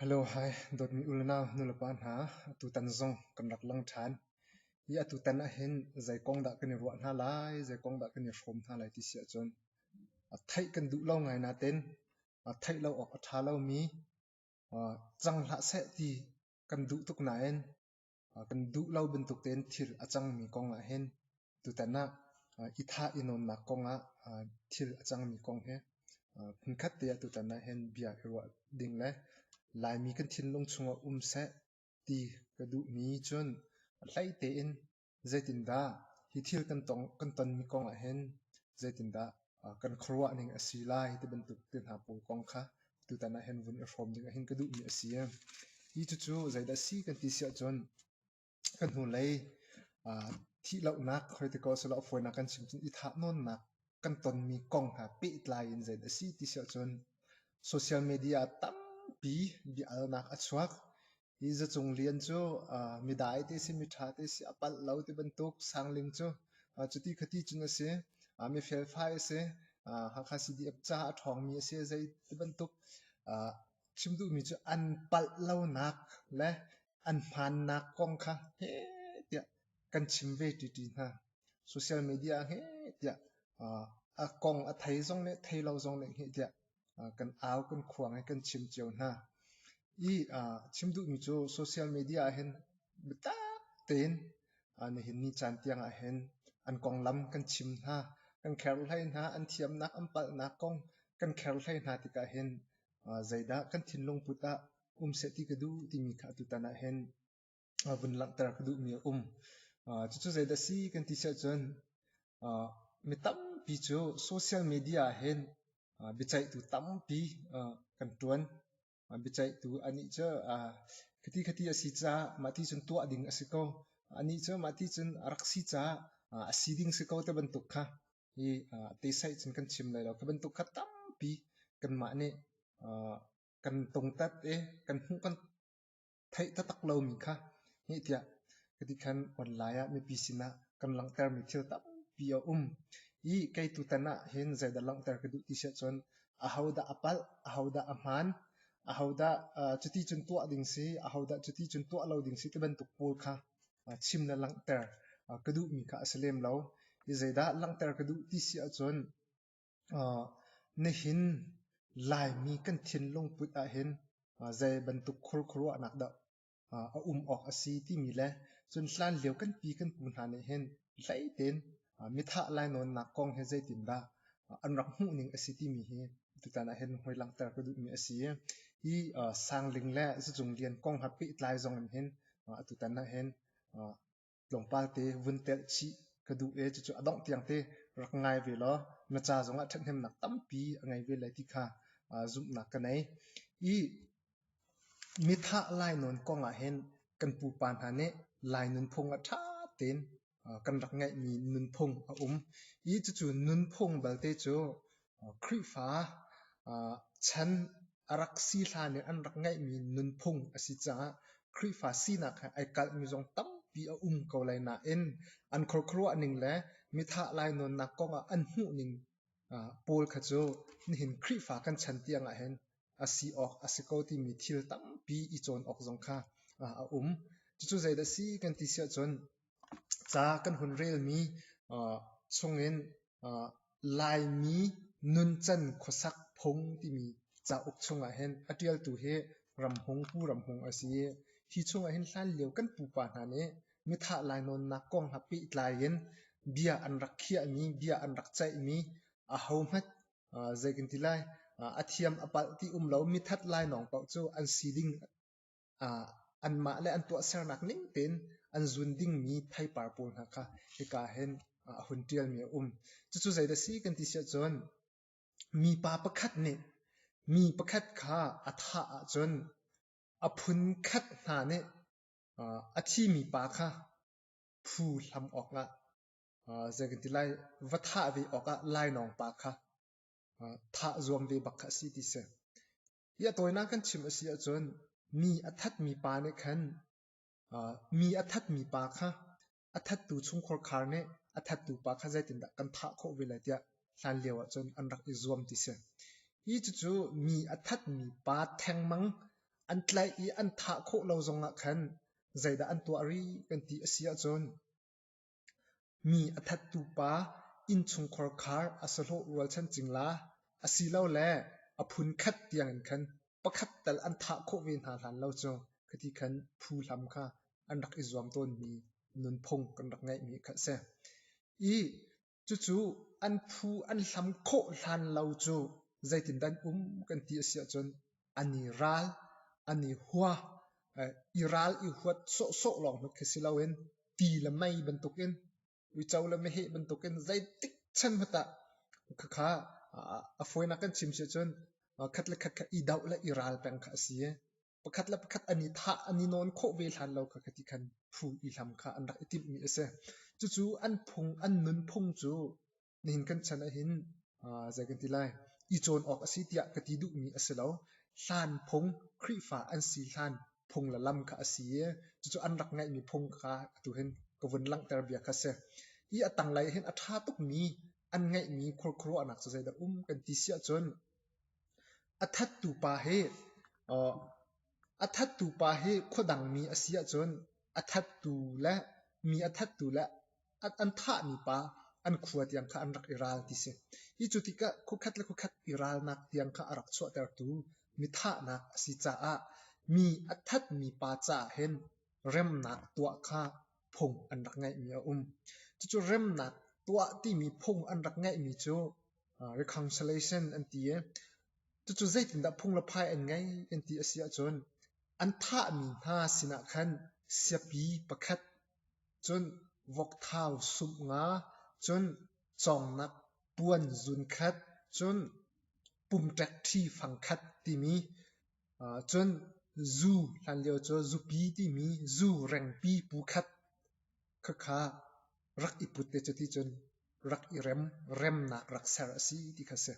Hello, hi. Dawtmi unau, nulepa hna, atutan zong kan rak lang ṭhan. Hi atutan ahhin zei kong dah kan i ruah hna lai, zei kong dah kan i hrawm hna lai ti si ahcun theih kan duh lo ngai nain theih lo awk a ṭha lomi cang hlah seh ti kan duh tuk nain kan duh lo bantuk tein thil a cangmi kong ah hin tutan ah i thah i nawnnak kong ah thil a cangmi kong hi hmunkhat te ah tutan ah hin bia i ruah ding le Laimi kan thinlung chungah um seh ti ka duhmi cun hlei tein zeitindah hi thil kan tong kan tonmi kong ah hin zeitindah kan khuaruah ning a si lai ti bantuk te hna pung kong kha tutan ah hin vun i hrawm ding hin ka duhmi a si. Hi cucu zeidah si kan ti si ahcun kan hnulei thih lonak critical silo fawinak kan chim cun i thah nawnnak kan tonmi kong hna pehtlai in zeidah a si ti si ahcun social media tampi bia alnak a chuak Hi zacung lian cu midai te si, miṭha te si, a palh lo ti bantuk sangling cu cuti khati cun a si. Mi felfai a si. Hakha CDF ca a ṭhawngmi a si. Zei ti bantuk chim duhmi cu an palh lonak le an hmaannak kong kha heh tiah kan chim ve ṭiṭi hna. Social media heh tiah a kong a thei zong le thei lo zong le heh tiah kan au kan khuang i kan chim cio hna. I chim duhmi cu social media ahhin biatak tein nihin ni caan tiang ahhin an konglam kan chim hna, kan kherhlai hna, an thiamnak an palhnak kong kan kherhlai hna tikah hin zeidah kan thinlung put ah um seh ti ka duh timi kha atutan ahhin vun langhter ka duhmi a um. cucu zeidah si kan ti siahcun mi tampi cu social media hin biaceihtu tampi kan ṭuan. biaceihtu anih cu khiti khiti a si caah mah ti cun tuah ding a si ko. anih cu mah ti cun a rak si caah a si ding si ko te bantuk kha hi tesaih cun kan chim lai lo. Khi bantuk kha tampi kanmah nih kan tungtat i kan hmuh kan theih taktak lomi kha heh tiah ka ti khan online ah mipi sinah kan langhtermi thil tampi a um i kei tutan ah hin zeidah langhter ka duh ti si ahcun ahodah a palh ahodah a hmaan ahodah uh, cuti cun tuah ding si ahodah cuti cun tuah lo ding si ti bantuk pawl kha uh, chim na langhter uh, ka duhmi kha a si lem lo i zeidah langhter ka duh ti si ahcun Nihin Laimi kan thinlung put ahhin zei bantuk khurkhuaruahnak dah a um awk a si timi le cun hlanlio kan pi kan pu hna nih hin hleitein mithah lainawnnak kong hi zeitindah an rak hmuhning a si timi hi tutan ahhin hoi langhter ka duhmi a si. Hi Sangling le Zicunglian kong ha pehtlai zong in hin atutan ahhin tlawmpal te vun telh chih ka duh e cucu a dongh tiang te rak ngai ve law na ca zongah ṭhathnemnak tampi a ngei ve lai ti kha zumhnak ka nei i mithah lainawn kongah hin kan pupa hna nih lai nunphung ah ṭha tein kan rak ngeihmi nunphung a um i cucu nunphung balte cu Khrihfa chan a rak si hlan in an rak ngeihmi nunphung a si caah Khrihfa sinak he ai kalhmi zong tampi a um ko lai nain an khuakhuaruah ning le mithah lainawnnak kong ah an hmuh ning pawl kha cu nihin Khrihfa kan chan tiangah hin a si awk a si ko timi thil tampi i cawn awk zong kha a um. Cucu zeidah a si kan ti si ahcun Ca kan hun relmi chungin Laimi nuncan khuasak phung timi cauk chungah hin a ṭialtu hi Ramhung Pu Ramhung a si i hi chungah hin hlanlio kan pupa hna nih mithah lainawnnak kongah pehtlai in bia an rak khiahmi, bia an rak ceihmi ahohmanh zei kan ti lai a thiam a palh ti um lo mithat lainawng paoh cu an si ding anmah le an tuahsernak ning tein an zun dingmi theipar pawl hna kha hika hin a hun ṭialmi a um. Cucu zeidah si kan ti siahcun mipa pakhat nih mi pakhat kha a thah ahcun a phun khat hna nih a thimi pa kha phu hlam awkah zei kan ti lai va thah ve awkah lainawng pa kha thah zuam ve bak kha a si ti si. hi a tawinak kan chim a si ahcun mi a thatmi pa nih khan mi a thatmi pa kha a thattu chungkhar khar nih a thattu pa kha zeitindah kan thah khawh ve lai tiah hlan lio ah cun an rak i zuam ti si hi cucu mi a thatmi pa thengmang an tlaih i an thah khawh lo zongah khan zeidah an tuah rih kan ti a si ahcun Mi a thattu pa innchungkhar khar a sahlawh rualchan cing la, asilole a phunkhat tiangin khan pakhat tal an thah khawh ve hna hlan lo cu khi ti khan phu hlam kha an rak i zuam tawnmi nunphung kan rak ngeihmi kha a si. I cucu an phu an hlam khawh hlan lo cu zeitindan um kan ti a si ahcun an i ral, an i hua, i ral i huat sawhsawh lawng hnut khi si loin ti le mei bantukin uico le meheh bantukin zeitik chan hmanh ah khakha a fawinak kan chim si cun khat le khat kha i doh le i ral peng kha a si i pakhat le pakhat an i thah an i nawn khawh ve hlan lo kha ka ti khan phu i hlam kha an rak i timhmi a si cucu an phung an nunphung cu nihin kan chan ah hin zei kan ti lai i cawn awk a si tiah ka ti duhmi a si lo hlan phung Khrihfa an si hlan phung la lam kha a si i cucu an rak ngaihmi phung kha atu hin ka vun langhter bia kha si i a tanglei hin a ṭha tukmi an ngaihmi khuaruahnak cu zeidah um kan ti siah cun a thattu pa hi A thattu pa hi khuadangmi a si ahcun a thattu le mi a thattu le an thahmi pa an khua tiang kha an rak i ral ti si. Hi cu tikah khuakhat le khuakhat i ralnak tiang kha a rak chuahtertu mithahnak a si caah mi a thatmi pa caah hin remnak tuah kha phung an rak ngeihmi a um. Cucu remnak tuah timi phung an rak ngeihmi cu reconciliation an ti i Cucu zeitindah phunglaphai an ngei an ti a si ahcun an thahmi hna sinah khan siapi pakhat, cun vokthau sumh nga, cun cawngnak puan zun khat, cun pumṭek ṭhi fang khat timi, cun zu hlanlio cu zupi timi zu rengpi pu khat, Khakha rak i put te cu ti cun rak i rem, remnak rak ser a si ti kha si.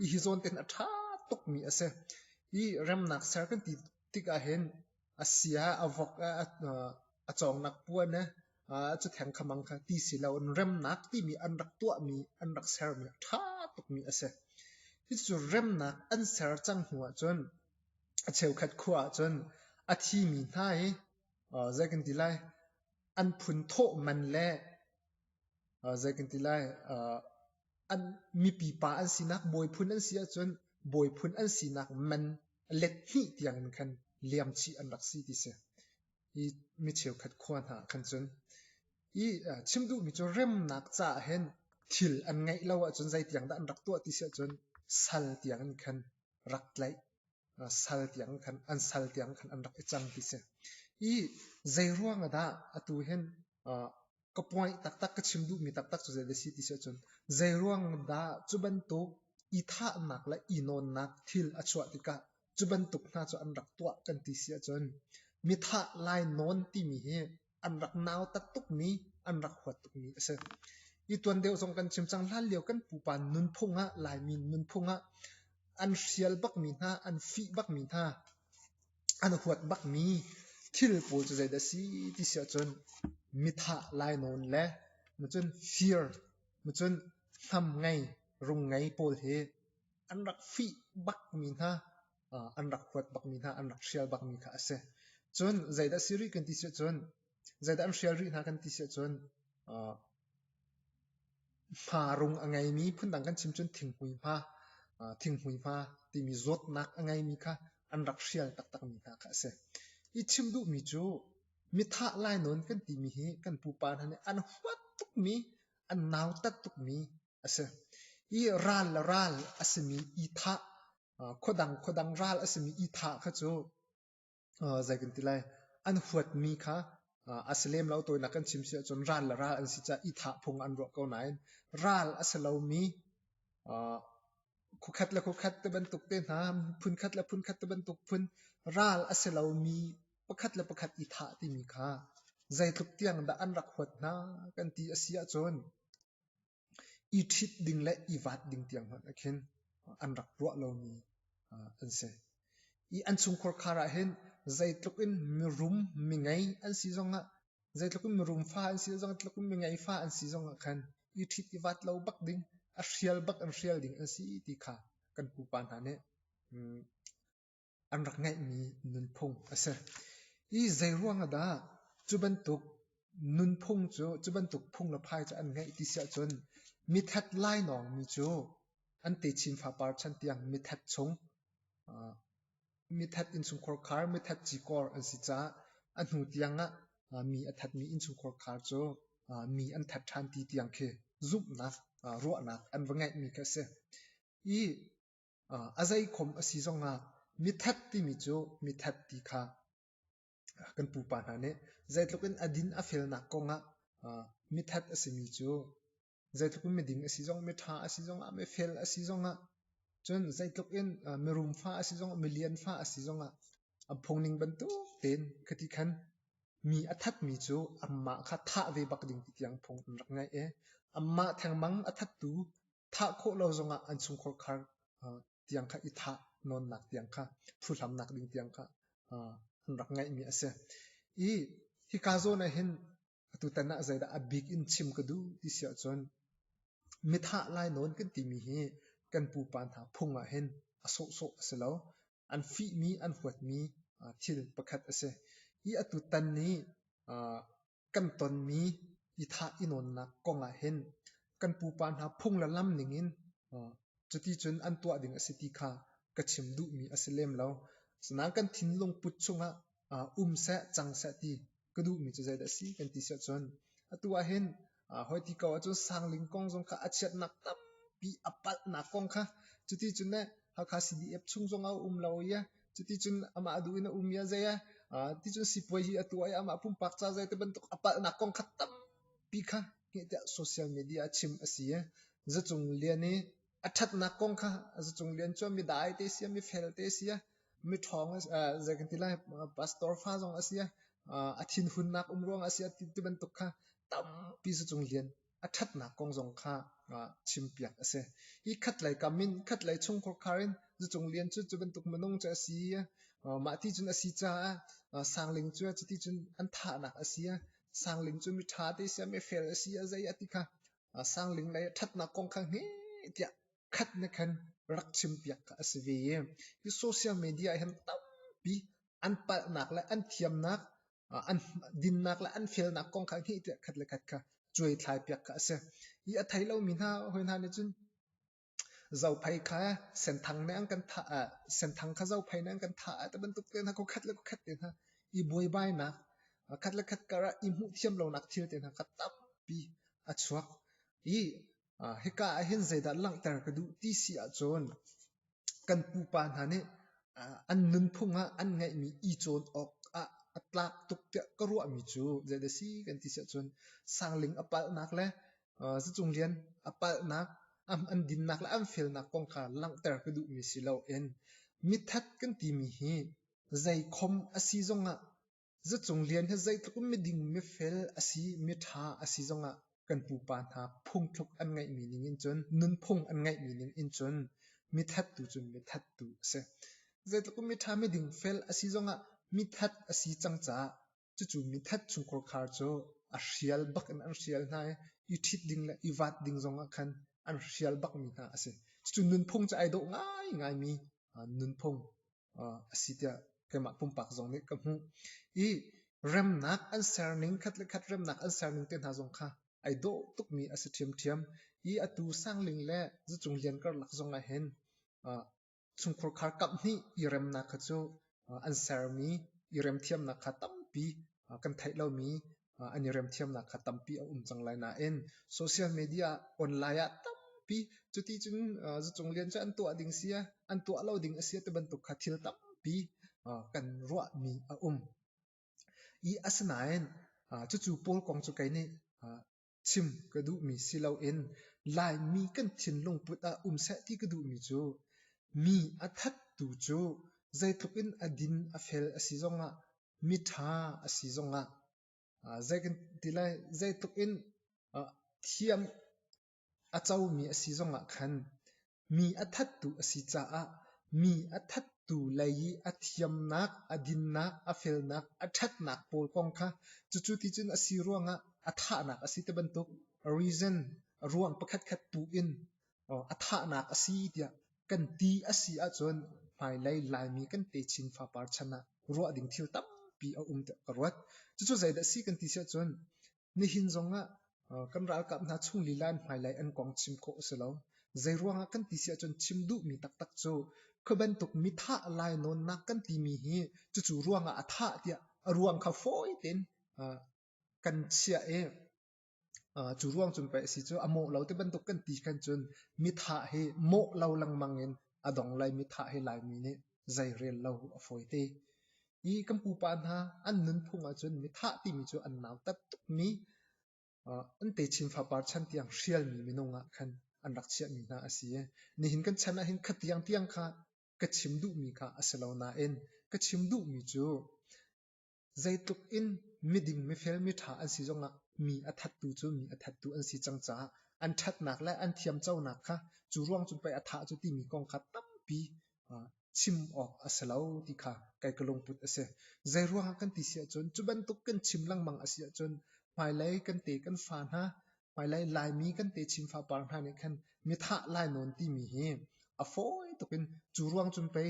I hi zawn ten a ṭha tukmi a si. I remnak ser kan ti tikah hin a sia, a vok, a cawngnak puan, cu theng khamang kha ti si lo in remnak timi an rak tuahmi, an rak sermi a ṭha tukmi a si. Cucu remnak an ser cang hnu ahcun a cheukhat khua ahcun a thimi hna i zei kan ti lai an phun thawh man le zei kan ti lai an mipi pa an sinak bawi phun an si ahcun bawi phun an sinak man let hnih tiang in khan liam chih an rak si ti si hi mi cheukhat khua hna khan cun hi chim duh mi cu remnak ca hen thil an ngeih lo ahcun zei tiang dah an rak tuah ti si ahcun sal tiang in khan rak tlaih sal tiang khan an sal tiang khan an rak i cang ti si i zeiruang ah dah atu hin ka point taktak ka chim duhmi taktak cu zeidah si ti si ahcun zeiruang dah cu bantuk i thahnak le i nawnnak thil a chuah tikah cu bantuk hna cu an rak tuah kan ti si ahcun mithah lai nawn timi hi an rak nautat tukmi an rak huat tukmi a si. Hi tuan deuh zong kan chim cang hlan lio kan pupa nunphung ah Laimi nunphung ah an hrial bakmi hna an fih bakmi hna an huat bakmi thil pawl cu zeidah si ti si ahcun mithah lainawn le macun fear macun hnam ngei rung ngei pawl hi an rak fih bakmi hna an rak huat bakmi hna, an rak hrial bakmi kha a si. Cun zeidah si rih kan ti siah cun, zeidah an hrial rih hna kan ti siah cun, hma rung a ngeimi, phundang kan chim cun thinghmui hma, thinghmui hma timi zawtnak a ngeimi kha an rak hrial taktakmi hna kha a si. I chim duhmi cu, mithah lainawn kan timi hi kan pupa hna nih an huat tukmi, an nautat tukmi a si. I ral le ral a simi i thah khuadang khuadang ral a simi ithah kha cu zei kan ti lai an huatmi kha a si lem lo tawinak kan chim si ahcun ral le ral an si caah ithah phung an ruah ko nain ral a si lomi khukhat le khukhat te bantuk te hna phunkhat le phunkhat te bantuk phun ral a si lomi pakhat le pakhat ithah timi kha zeitluk tiang dah an rak huat hna kan ti a si ahcun i ṭhit ding le i vaat ding tiang hmanh ah khin an rak ruah lomi an si. I an chungkhar khar ah hin zeitluk in mirum mingei an si zong ah zeitluk in mirum fa an si zong zeitluk in mingei fa an si zong ah khan i ṭhit i vaat lo bak ding a hrial bak in hrial ding an si ti kha kan pupa hna nih an rak ngeihmi nunphung a si. Hi zeiruang ah dah cu bantuk nunphung cu, cu bantuk phung le phai cu an ngeih ti si ahcun mithet lainawng mi cu an te chin fapar chan tiang mithet chung mithet innchungkhar khar, mithet cikor an si caah a hnu tiang ah mi a thatmi innchungkhar khar cu mi an that ṭhan ti tiang khi zumhnak, ruahnak an va ngeihmi khi a si. Hi a zeikhom a si zongah mithat timi cu mithat ti kha kan pupa hna nih zeitluk in a din a felnak kongah mithat a simi cu zeitluk in miding a si zong miṭha a si zongah mifel a si zongah cun zeitluk in mirum fa a si zongah milian fa a si zongah a phungning bantuk tein khati khan mi a thatmi cu amah kha thah ve bak ding ti tiang phung an rak ngaih i amah thengmang a thattu thah khawh lo zongah an chungkhar khar tiang kha i thah nawnnak tiang kha phuhlamnak ding tiang kha an rak ngeihmi a si i hika zawn ah hin atutan ah zeidah a bik in chim ka duh ti si ahcun mithah lai nawn kan timi hi kan pupa hna phung ah hin a sawhsawh a si lo an fihmi an huatmi thil pakhat a si i atu tan nih kan tonmi i thah i nawnnak kong ah hin kan pupa hna phung le lam ning in cuti cun an tuah ding a si ti kha ka chim duhmi a si lem lo. Asinain kan thinlung put chungah um seh, cang seh ti ka duhmi cu zeidah si kan ti seh cun atu ah hin hoi ti ko ahcun sangling kong zong kha a chiatnak tampi a palhnak kong kha cuti cun ne Hakha CDF chung zong a um lo i Cuticun amah a duh in a um i a zei a ticun sipuai hi a tuah i amah pumpak ca zei te bantuk a palhnak kong kha tampi kha hngehtiah social media a chim a si i zacung lian i a ṭhatnak kong kha zacung lian cu mi dai te si mi fel te si mi ṭhawng zei kan ti lai pastor fa zong a si a thinhunnak um ruang a si a ti bantuk kha tampi zacung lian a ṭhatnak kong zong kha chimpiak a si. Hi khatlei kam in khatlei chung khuakhar in Zucung Lian cu cu bantuk minung cu a si i mah ti cun a si caah Sang Ling cu cuti cun an thahnak a si. Sang Ling cu mi ṭha te siam i fel a si a zei a ti kha Sang Ling lei ṭhatnak kong kha hme tiah khat ne khan rak chimpiak kha a si ve i hi social media hi tampi an palhnak le an thiamnak an dinnak le an felnak kong kha hnih tiah khat le khat kha cuaithlai piak kha a si. I a thei lomi hna hawi hna nih cun zophei kha senthang nih an kan thah ah senthang kha zophei nih an kan thah ah te bantuk te hna khat le khat te hna i buaibainak khat le khat kara i hmuh thiam lonak thil te hna kha tampi a chuak i hika ah hin zeidah langhter ka duh ti si ahcun kan pupa hna nih an nunphung ah an ngeihmi i cawn awk ah a tlak tuk tiah ka ruahmi cu zeidah si kan ti si ahcun sangling a palhnak le zacung lian a palhnak an dinnak le an felnak kong kha langhter ka duhmi si lo in mithat kan timi hi zeikhom a si zong ah Zacung Lian hi zeitluk in miding, mifel a si, miṭha a si zongah kan pupa hna phungthluk an ngeihmi ningin cun, nunphung an ngeihmi ningin cun mithattu cu mithattu a si. Zeitluk in miṭha, miding, fel a si zongah mithat a si cang caah cucu mithat chung khuakhar cu a hrial bak in an hrial hna i, i ṭhit ding le i vaat ding zongah khan an hrial bakmi hna a si. Cucu nunphung cu ai dawh ngaingaimi nunphung a si tiah keimah pumpak zong nih ka hmuh i remnak an serning khat le khat remnak an serning te hna zong kha ai dawh tukmi a si ṭhiamṭhiam i atu sangling le zucung lian karlak zong ah hin chungkhur khar kamh nih i remnak kha cu an sermi i remthiamnak kha tampi kan theih lomi an i remthiamnak kha tampi a um cang lai nain social media ah online ah tampi cuti cun zacung lian cu an tuah ding si an tuah lo ding a si ti bantuk kha thil tampi kan ruahmi a um i asinain cucu paul kong cu kei nih chim ka duhmi si loin laimi kan thinlung put ah um seh ti ka duhmi cu mi a thattu cu zeitluk in a din a fel a si zongah miṭha a si zongah zei kan ti lai zeitluk in thiam a comi a si zongah khan mi a thattu a si caah mi a thattu lei i a thiamnak a dinnak a felnak a ṭhatnak pawl kong kha cucu ti cun a si ruangah a thahnak a si ti bantuk reason ruang pakhatkhat tu in a thahnak a si tiah kan ti a si ahcun hmailei Laimi kan te chin fapar chan ah ruah ding thil tampi a um tiah ka ruat. Cucu zeidah si kan ti si ahcun nihin zong ah kan ralkap hna chung lila in hmailei an kong chim khawh a si lo. Zei ruangah kan ti si ahcun chim duhmi taktak cu kha bantuk mi thah lainawnnak kan timi hi cucu ruangah a thah tiah a ruang kha fawi tein kan chiah i Cu ruang cun pei a si cu a mawh lo ti bantuk kan ti khan cun mitha hi mawh lo lengmang in a dong lai mitha hi Laimi nih zei rel lo a fawi te. Hi kan pupa hna an nunphung ahcun mitha timi cu an nautat tukmi an techin fapar chan tiang hrialmi minung ah khan an rak chiahmi hna a si i nihin kan chan ahhin kha tiang tiang kha ka chim duhmi kha a si lo nain ka chim duhmi cu Zeitluk in miding mifel miṭha an si zongah mi a thattu cu mi a thattu an si cang caah an ṭhatnak le an thiamconak kha cu ruang cun pei a thah cu timi kong kha tampi chim awk a si lo ti kha kai ka lungput a si. Zei ruangah kan ti si ahcun cu bantuk kan chim lengmang a si ahcun hmailei kan te kan fa hna hmailei Laimi kan te Chin fapar hna nih khan mithah lai nawn timi hi a fawi tuk in cu ruang cun pei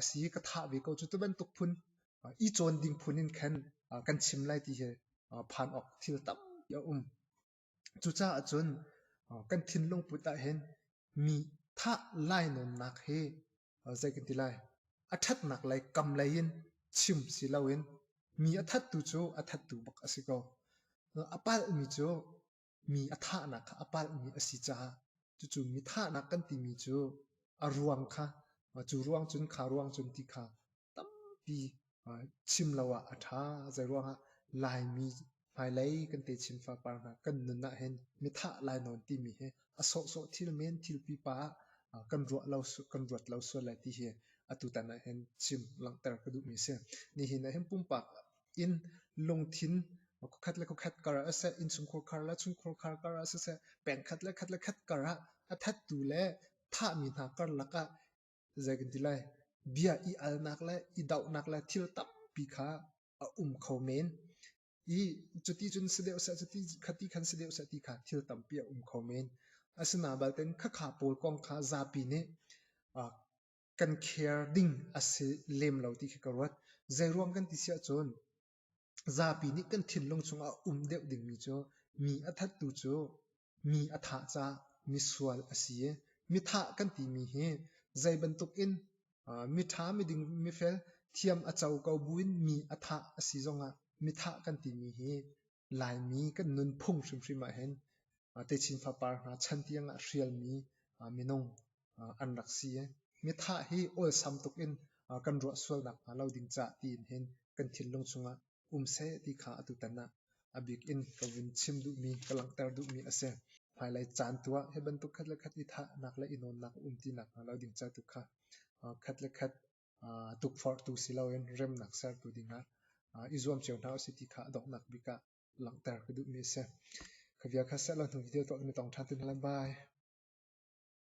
a si ka thah ve ko cu tu bantuk phun i cawn ding phun in khan kan chim lai ti hi phan awk thil tampi a um. Cucaah cun kan thinlung put ah hin mi thah lai nawnnak hi zei kan ti lai a ṭhatnak lei kam lei in chim si loin mi a thattu cu a thattu bak a si ko. A palhmi cu mi a thahnak kha a palhmi a si caah cucu mi thahnak kan timi cu a ruang kha cu ruang cun kha ruang cun ti kha tampi chim lo ah a ṭha. Zeiruangah Laimi hmailei kan te Chin fapar hna kan nun ah hin mithah lai nawn timi hi a sawhsawh thil men thil pipa ah kan ruah lo kan ruat lo sual lai ti hi atu tan ah hin chim langhter ka duhmi a si. Nihin ah hin pumpak in lungthin kokhat le kokhat kar ah seh innchungkhur khar le chungkhur khar kar ah seh pengkhat le khat le khat kar ah a thattu le thahmi hna karlak ah Zei kan ti lai? Bia i alnak le i dohnak le thil tampi kha a um kho men. I cuti cun si deuh seh, cuti khati khan si deuh seh ti kha thil tampi a um kho men. Asina balten khakha pawl kong kha zapi nih uh, kan care ding a si lem lo ti khi ka ruat. Zei ruang kan ti siah cun, Zapi nih kan thinlung chungah um deuh dingmi cu mi a thattu cu mi a thah caah misual a si i mithah kan timi hi zei bantukin miṭha, miding, mifel, thiam a co ko buin mi a thah a si zongah mithah kan timi hi Laimi kan nunphung hrimhrim ahhin techin fapar hna chan tiangah hrialmi minung an rak si i mithah hi awlsam tuk in kan ruah sual nakhnga lo ding caah tiin hin kan thinlung chungah um seh ti kha atutan ah a bik in ka vun chim duhmi ka langhter duhmi a si hmailei caan tu ah hi bantuk khat le khat i thahnak le i nawnnak um ti nakhnga lo ding ca tu kha khat le khat tukforhtu si loin remnak sertu dingah i zuam cio hna usih ti kha donghnak bik ah langhter ka duhmi a si khavia kha selo hnu video tuah mi tong ṭhan tun lam bai